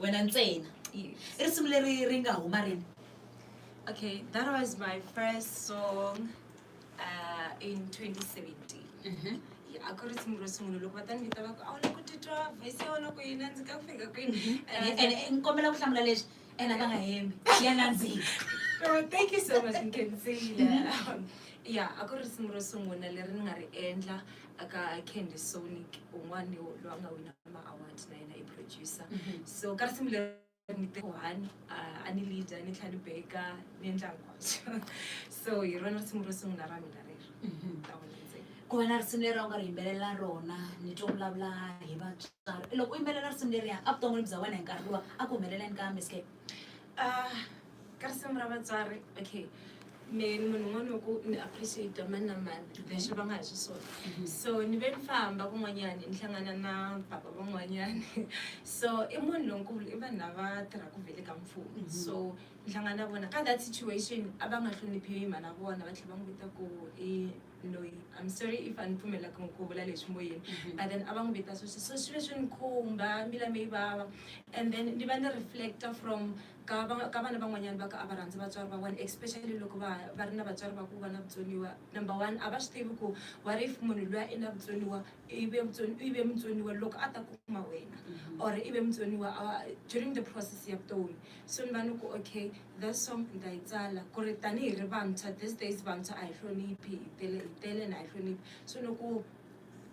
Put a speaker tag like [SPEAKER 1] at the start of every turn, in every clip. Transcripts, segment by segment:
[SPEAKER 1] wena ntsena i risimu leri ri nga huma rini okay that was my first song uh, in 2017 mm -hmm. a ku ri simu ro sungula loko va ta ni vita va ku a wu le ku titwa vhesi ya wena ku yini a ndzi ka ku fika kwini ni kombela ku hlamula leswi ena ka nga hembi ya nandzika thank you so much nkenzile ya a ku ri simu ro sungula leri ni nga ri endla aka candy sonic un'wana loyi a nga wina ma-award na yena i producer mhm. so ka risimu leri ni one a ni leader ni tlhela ni beka ni endla hinkwaswo so hi rona risimu ro sungula ra mina rero mhm. ku va na risimu leri a wu nga ri yimbelela rona ni twa vulavula hi vatswari loko u yimbelela risimu leriya a vuton'wini bya wena hi nkarhi luwa a ku humeleleni ka miscape Ah, ka risimi ra vatswari okay me ni munhu un'wana wa ku ni appreciate mani na mani leswi va nga hi xiswona mhm. so ni ve ni famba kun'wanyani ni hlangana na baba van'wanyani so i munhu lonkulu i vanhu lava tirhaka vele ka mfumo mhm. so ni hlangana na vona ka that situation a va nga hloniphiwi hi mhana vona va tlhela va n'wi vita ku i loyi I'm sorry if a ni pfumelaka n'wi ku vula leswi moyeni mhm. but then a va n'wi vita sweswi so swilo swi ni khumba mbila mi yi vava and then ni va ni reflecta from ka ka vana van'wanyana va ka a va rhandzi vatswari va vona especially loko va va ri na vatswari va ku va na vutsoniwa number one a va swi tivi ku what if munhu loyi i na vutsoniwa ive ive mutsoniwa loko a ta kuma wena mhm. or ive mutsoniwa during the process ya vutomi so ni va ni ku okay This song nita yi tsala kuri tani hi ri vantshwa this days vantshwa a hi hloniphi hi tele hi tele and a hi hloniphi so loko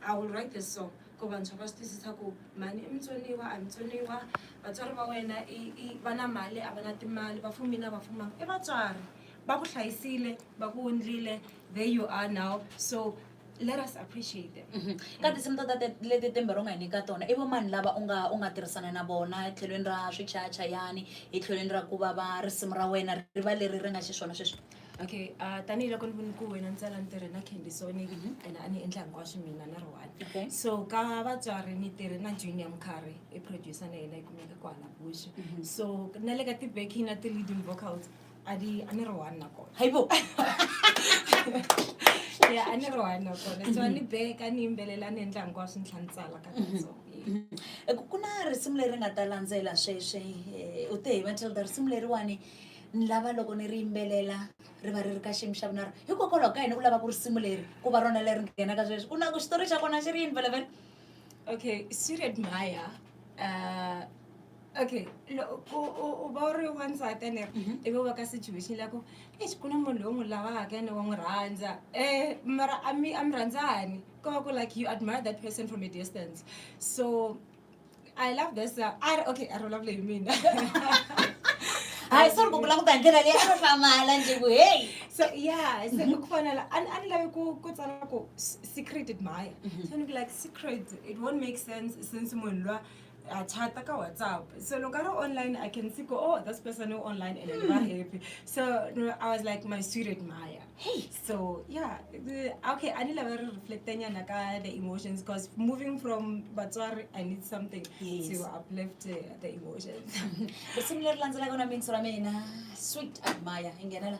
[SPEAKER 1] I will write this song ku vantshwa va swi twisisa ku mhani i mutsoniwa a hi mutsoniwa vatswari va wena i i va na mali a va na timali va fumile a va fumanga i vatswari va ku hlayisile va ku wundlile there you are now so let us appreciate them mm -hmm. ka tinsimu to leti tembero nga hi nyika tona i vomani lava u nga u nga tirhisana na vona etlhelweni ra swichacha yani etlhelweni ra ku va va risimu ra wena ri va leri ri nga xiswona sweswi okay uh, tanihiloko ni voni ku wena ni tsala ni tirhe na candy soni mm -hmm. and a ni endla hinkwaswo mina ni ri one okay. so ka vatswari ni tirhe na junior mkhari i producer na yena yi kumeka kwala bush mm -hmm. so na le ka ti-backing na ti-leading vocals a di a ne re one nako haibo ya a ne re one nako ne tswa ni back a ni imbelela ni endla hinkwaswo swi ntlha ni tsala ka mhm. so mhm. ku na risimu leri nga ta landzela sweswi eh, u te hi matilda risimu leriwani ni lava loko ni ri yimbelela ri va ri ri ka xiyimo xa vunaro hikokwalaho ka yini u lava ku risimu leri ku va rona leri nghenaka sweswi u na ku xitori xa kona xi ri yini velavela okay siret maya um eh, okay u va u ri wansati ene mhm. ivi u va ka situation la ku exi ku na munhu loyi u n'wi lavaka ene wa n'wi rhandza um mara a mi a mi rhandzani ko va ku like you admire that person from a distance so i love this uh, a ri okay a ri vulavule hi mina hayi sori ku vula ku ta ndlela leyi a ri hlamala nje ku heyi so yeah se mhm. ku fanela a ni lavi ku ku tsala ku secret admire mhm. so ni ku like secret it won't make sense since munhu loyi ha chata ka whatsapp so loko a ri online i can see go oh this person u online and va hmm. happy so i was like my sweetheart maya hey so yeah okay a ni lava ri reflecta nyana ka the emotions because moving from vatswari i need something yes. to uplift uh, the emotions risimu leri landzelaka na mintsu ra mina sweet admire hi nghenela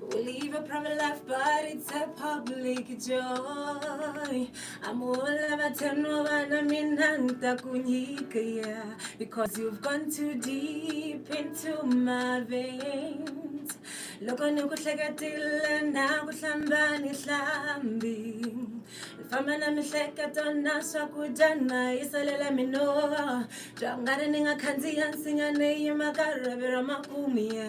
[SPEAKER 1] We'll leave a private life, but it's a public joy. I'm all about ten over minanta kunyikaya because you've gone too deep into my veins. Loko ni ku hleketile na ku hlamba ni hlambi famba na mihleketo na swakudya na yi salela minoa bya nga ri ni nga khandziya nsinya ni yima ka rhavi ra makumiya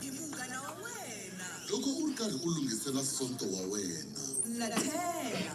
[SPEAKER 1] hi munghana wa wena loko u ri karhi u lunghisela sonto wa wena na tlhela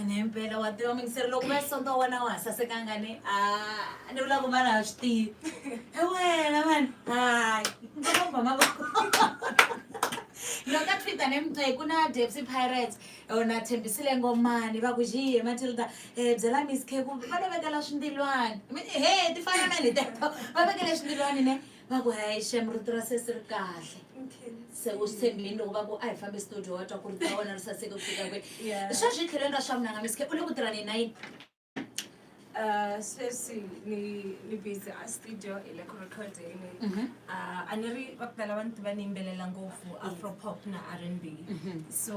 [SPEAKER 1] ene himpela wa tiva mingiseri loko va sonto wa wena wa ha sasekanga ni a ni vula ku vana ha swi tivi e wena vana hayi loko a twitter ne mixi ku na depsy pirates yona thembisile ngomani va ku xiye matilda um eh, byela miss k ku va ni vekela swindilwani he ti fana na liteto va vekele swindilwani ne va ku hayi xem rito ra sesi ri kahle se u swi tshembini loko va ku a hi fambi studio wa twa ku rito ra wena ri saseke ku fika kwihi sweswi tlhelweni ra swa munanga miske u le ku tirhani na yini Uh, sweswi ni ni busy a studio hi le ku recording Mhm. uh, a ni ri va ku tala va ni tiva ni yimbelela ngopfu afropop na r and b so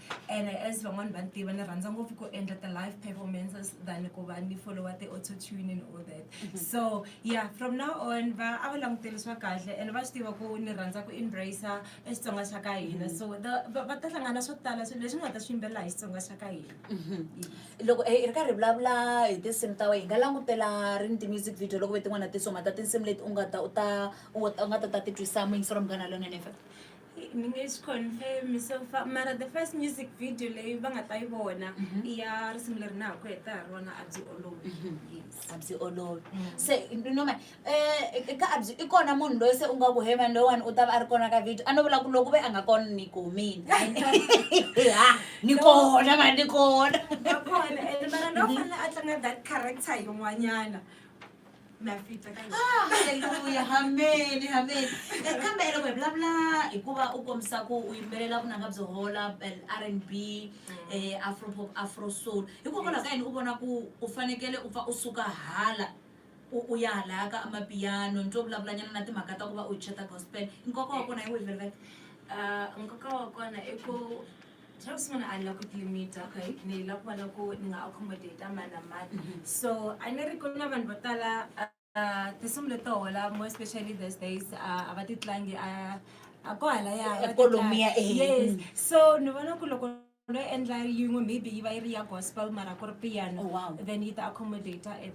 [SPEAKER 1] ene as van'wani va ni tiva ni rhandza ngopfu ku endla ti-live performances than ku va ni followa ti-auto tune and all that so yeah from now on va a va languterisiwa kahle and va swi tiva ku ni rhandza ku embracer e xitsonga xa ka hina so the- va va ta hlangana swo tala swilo leswi ni nga ta swi yimbelela hi xitsonga xa ka hina loko eh, hi ri karhi hi vulavula hi tinsimu ta wena hi nga langutela rini ti-music video loko ve tin'wana na tinsimu ta tinsimu leti u nga ta u ta u ta- u nga ta ta ti twisa muyingiselo wa munghana lonene fm ni nge swi confirm so far mara the first music video leyi va nga ta yi vona Mhm. i ya risimu leri na ha ku heta ha rona a byi olovi Mhm. yes a byi olovi Mm. se noma um ka a byi i kona munhu loyi se u nga ku he mani loyiwani u ta va a ri kona ka video a no vula ku loko ve a nga kona ni kumini ha ni kona mani ni kona nakona and mara lowu fanele a tlanga that character yin'wanyana nafita ka yona. Ah, haleluya hameni hameni Eh, kambe loko hi vulavula hikuva u kombisa ku u yimbelela vunanga byo hola eh, r and b eh, afropop afro soul hikokwalaho ka yini u vona ku u fanekele u pfa u suka hala u u ya halaya ka amapiyano ni twe vulavulanyana na timhaka ta ku va u cheta gospel nkoka wa kona hi wihi velvet Ah, nkoka wa kona i ku Just want to unlock with limit, okay? Ni love wala ko nga accommodate man na man. Mm-hmm. So, I never ko na man batala uh, tisum le to wala more especially these days uh, abati tlangi uh, akwala ya economia eh. Yes. Mm. So, ni vona ku loko ndo endla yin'we maybe yi va yi ri ya gospel mara ku ri piano oh, wow. then yi ta accommodator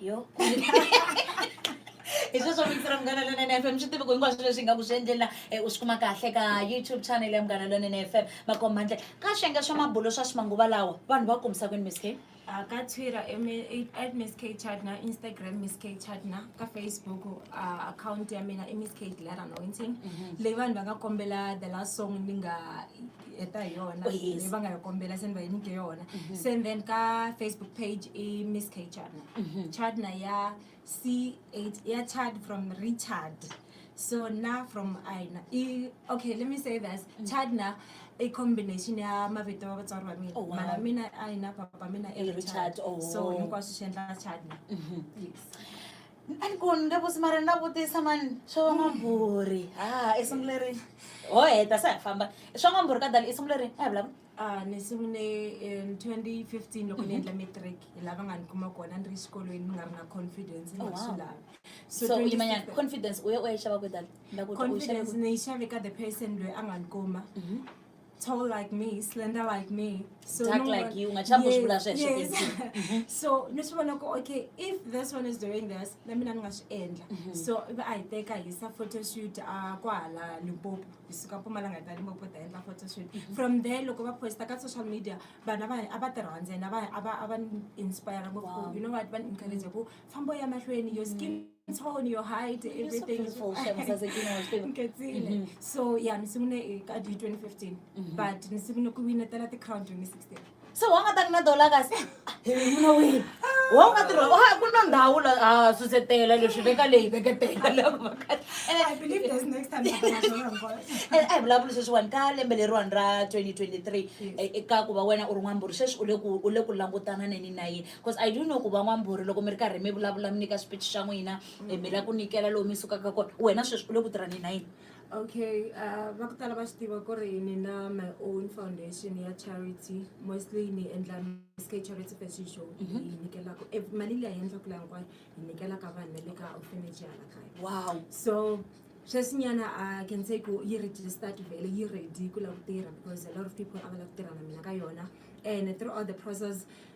[SPEAKER 1] yo hi sweswo vito ra munghana lonene fm swi tivi ku hinkwaswo leswi hi nga ku swi endlela eh, u swi kuma kahle ka youtube channel ya munghana lonene fm makomba handle ka swiyenge swa mabulo swa swimanguva lawa vanhu va kombisa kwini miss k Ah, ka twitter em- i- at miss k chadna instagram miss k chadna ka facebook ah, account ya mina i miss k dilara anointing leyi vanhu va nga kombela the last song ni nga heta hi yona Oh, yes. Mm-hmm. leyi va nga yi kombela se ni va yi nyike yona se and then ka facebook page i miss k chadna Mm-hmm. chadna ya c ya chad from richard so na from aina i okay let me say this Mm. chadna i combination ya mavito ya vatswari va mina Oh, wow. mala mina aina papa mina i I richard Richard, oh. so hinkwaswo swi endla chadna yes a ni koni ni vusi mara ni la vutisa mani swa van'wambhuri ha i simu leri ho heta se ha famba swa n'wambhuri ka dali i simu leri a hi vulavula Ah, ni sungule in 2015 loko ni endla matric hi lava nga ni kuma kona ni ri xikolweni ni nga ri na confidence ni Oh, nga wow. swi lavi so u 2015 yimanyana confidence u ye u ya yi xava kwe dali Ndza ku twa u yi xave confidence kwi? ni yi xave ka the person loyi a nga ni kuma Mhm. tall like me slender like me so dark no like one, you ungachambuzvula yes, zvesvo yes. Mhm. so ndosvivona ku okay if this one is doing this namina ni nga swi endla mhm. so ivi a hi teka hi sa photoshoot a kwahala limpopo hi suka mpumalanga ta limpopo ta endla photoshoot mhm. from there loko va posta ka social media vana va a va ti rhandzena va a va inspire ngopfu you know what va ni encourage ku fambo ya mahlweni your skin it's all on your height everything is so mhm. so yeah nisimune ka di 2015 mhm. but nisimune ku wina tala ti crown 2016 so wanga ta na dollar kasi muna wina wanga tiro ha ah, ku na ndawu la ha ah, susetela leswi veka leyi veketela la ku makati and i believe there's next time and i bula bula sweswi wani ka lembe leri wani ra 2023 eka ku va wena u ri n'wamburi sweswi u le ku u le ku langutana neni na yini because i do know ku van'wambhuri loko mi ri karhi mi vulavula mi nyika swiphichi xa n'wina eh, mi la ku nyikela lowu mi sukaka kona wena sweswi u le ku tirhani na yini okay uh, va ku tala va swi tiva ku ri ni na my own foundation ya charity mostly ni endla sk charity fashion show Mhm. ni nyikelaka eh, mali leyi hi endlaka laha hinkwayo hi nyikelaka vanhu va le ka orphanage ya la kaya wow so sweswinyana i can say ku yi registered vele yi ready ku lava ku tirha because a lot of people a va lava ku tirha na mina ka yona and throughout the process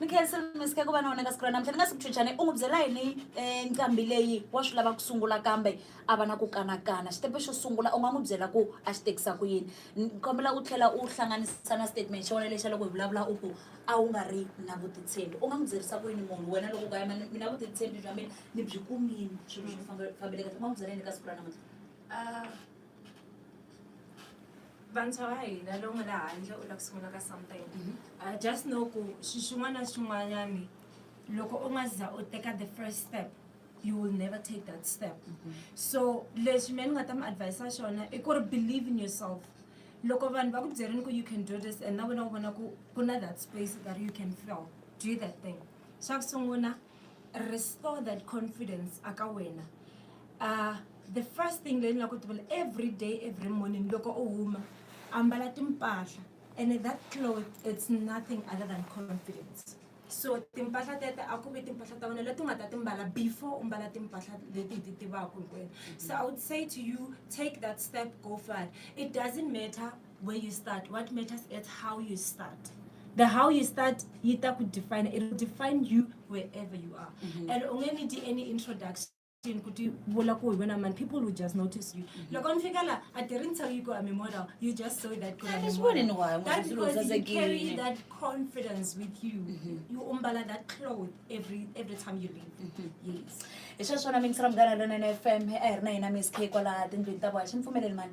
[SPEAKER 1] mikhensi misike ku va na wena ka siku ra namuntlha ni nga si kuchuchane u n'wi byela yini eh, nqambi leyi wa swi lava ku sungula kambe a va na ku kanakana xitepe xo sungula u nga n'wi byela ku a xi tekisa ku yini Ni kombela u tlhela u hlanganisa na statement xa wena lexa loko hi vulavula u ku a wu nga ri na vutitshembi u nga n'wi byerisa ku yini munhu wena loko u ka yima ni- mina vutitshembi bya mina ni byi kumini swilo swi fambe- fambeleka u nga n'wi byela yini ka siku ra namuntlha Ah, vantshwa va hina lowu nga le handle u lava ku sungula ka something mhm. uh, just know ku swilo swin'wana na swin'wanyani loko u nga za u teka the first step you will never take that step mm -hmm. so leswi mina ni nga ta mi advisa xona i ku ri believe in yourself loko vanhu va ku byerini ku you can do this and na wena u vona ku ku na that space that you can feel do that thing xa ku sungula restore that confidence aka wena uh, the first thing leyi ni la ku tivela every day every morning loko u huma ambala timpahla and that cloth it's nothing other than confidence so timpahla tete a ku vi timpahla ta wena leti u nga ta timbala before u mbala timpahla leti hi ti tivaka hinkwenu so i would say to you take that step go far it doesn't matter where you start what matters is how you start the how you start yi ta ku define it will define you wherever you are mm -hmm. and u nge need any introduction kuti vula ku hi wena mani people will just notice you mm -hmm. loko mi fika la a ti ri ni tell you ku i'm model you just saw that that because you carry that confidence with you mm -hmm. you umbala that cloth every every time you leave mm -hmm. yes hi sweswona mingisela munghana lonene fm a hi ri na hina miss k kwala tindlwini ta vona xi mi pfumeleli mani